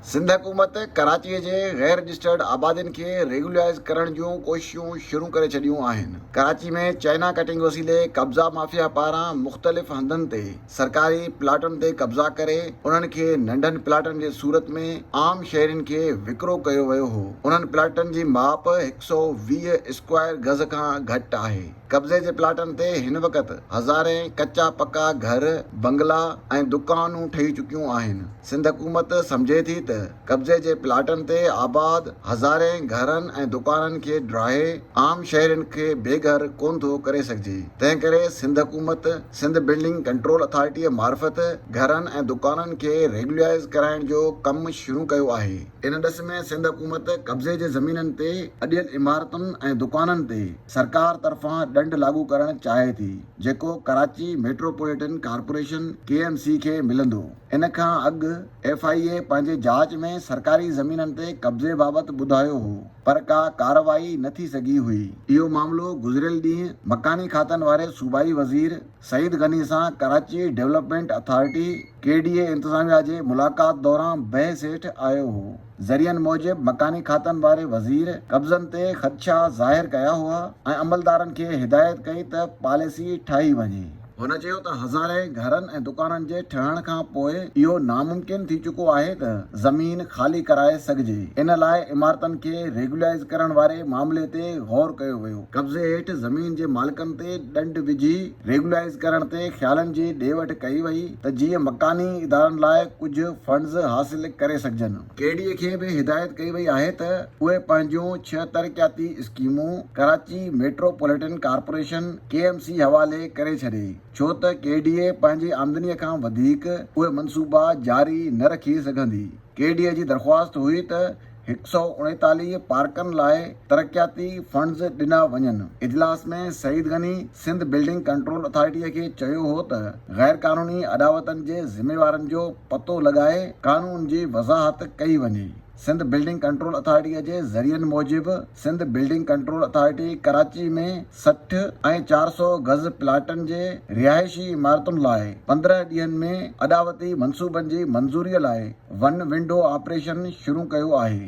سنڌ حڪومت ڪراچيء جي غير رجسٽرڊ آبادين کي ريگيولرائيز ڪرڻ جون ڪوششون شروع ڪري ڇڏيون آهن. ڪراچي ۾ چائنا ڪٽنگ وسيلي قبضا مافيا پاران مختلف هنڌن تي سرڪاري پلاٽن تي قبضا ڪري انهن کي ننڍن پلاٽن جي صورت ۾ عام شهرين کي وڪرو ڪيو ويو هو. انهن پلاٽن جي ماپ هڪ سؤ ويهه اسڪوائر گز کان گهٽ آهي. قبضي جي پلاٽن تي هن وقت هزارين ڪچا پڪا گهر، بنگلا ۽ دڪانون ٺهي چڪيون آهن. سنڌ حڪومت سمجهي ٿي ته قبضي جي پلاٽن تي آباد هزارين گهرن ۽ دڪانن کي ڊاهي عام شهرين کي بي گهر ڪونه ٿو ڪري سگهجي تنهنڪري سنڌ حڪومت سنڌ بلڊنگ ڪنٽرول اٿارٽيء معرفت گهرن ۽ دڪانن کي ريگيولائيز ڪرائڻ جو ڪم شروع ڪيو آهي. ان ڏس ۾ سنڌ حڪومت قبضي جي زمينن تي اڏيل عمارتن ۽ دڪانن تي سرڪار طرفان ڏنڊ لاڳو ڪرڻ چاهي ٿي جيڪو Karachi metropolitan corporation, K M C, کي ملندو. ان کان اڳ ايف آء اي پنهنجي جاچ ۾ سرڪاري زمينن تي قبضي بابت ٻڌايو هو پر ڪا ڪارروائي نه ٿي سگهي هئي. اهو معاملو گذريل ڏينهن مڪاني کاتن واري صوبائي وزير، سعيد غني سان Karachi development authority, K D A, انتظاميا جي ملاقات دوران بحث هيٺ آيو هو. ذريعن موجب مڪاني کاتن واري وزير قبضن تي خدشا ظاهر ڪيا هئا ۽ عملدارن کي هدايت ڪئي ته پاليسي ٺاهي وڃي. هن چيو ته هزارين گهرن ۽ دڪانن جي ٺهڻ کان پوء اهو ناممڪن ٿي چڪو آهي ته زمين خالي ڪرائي سگهجي، ان لاء عمارتن کي ريگيولائيز ڪرڻ واري معاملي تي غور ڪيو ويو. قبضي هيٺ زمين جي مالڪن تي ڏنڊ وجهي ريگولائيز ڪرڻ تي خيالن جي ڏي وٺ ڪئي وئي ته جيئن مڪاني ادارن لاء ڪجهه فنڊز حاصل ڪري سگهجن. ڪي ڊي اي کي به هدايت ڪئي وئي آهي ته اهي پنهنجون ڇهه ترقياتي اسڪيمون Karachi metropolitan corporation, K M C, حوالي ڪري ڇڏي ڇو ته ڪي ڊي اي پنهنجي آمدني کان وڌيڪ اهي منصوبا جاري نه رکي سگهندي. ڪي ڊي اي جي درخواست هئي ته هڪ سؤ اڻيتاليهه پارڪن لاء ترقياتي فنڊز ڏنا وڃن، اجلاس ۾ سعيد غني سنڌ بلڊنگ ڪنٽرول اٿارٽيء کي چيو هو ته غير قانوني اڏاوتن جي ذميوارن جو پتو لڳائي قانون جي وضاحت ڪئي وڃي، سنڌ بلڊنگ ڪنٽرول اٿارٽيء جي ذريعن موجب Sindh building control authority Karachi ۾ سٺ ۽ چار سؤ گز پلاٽن جي رهائشي عمارتن لاء پندرهن ڏينهن ۾ اڏاوتي منصوبن جي منظوري لاء ون ونڊو آپريشن شروع ڪيو آهي.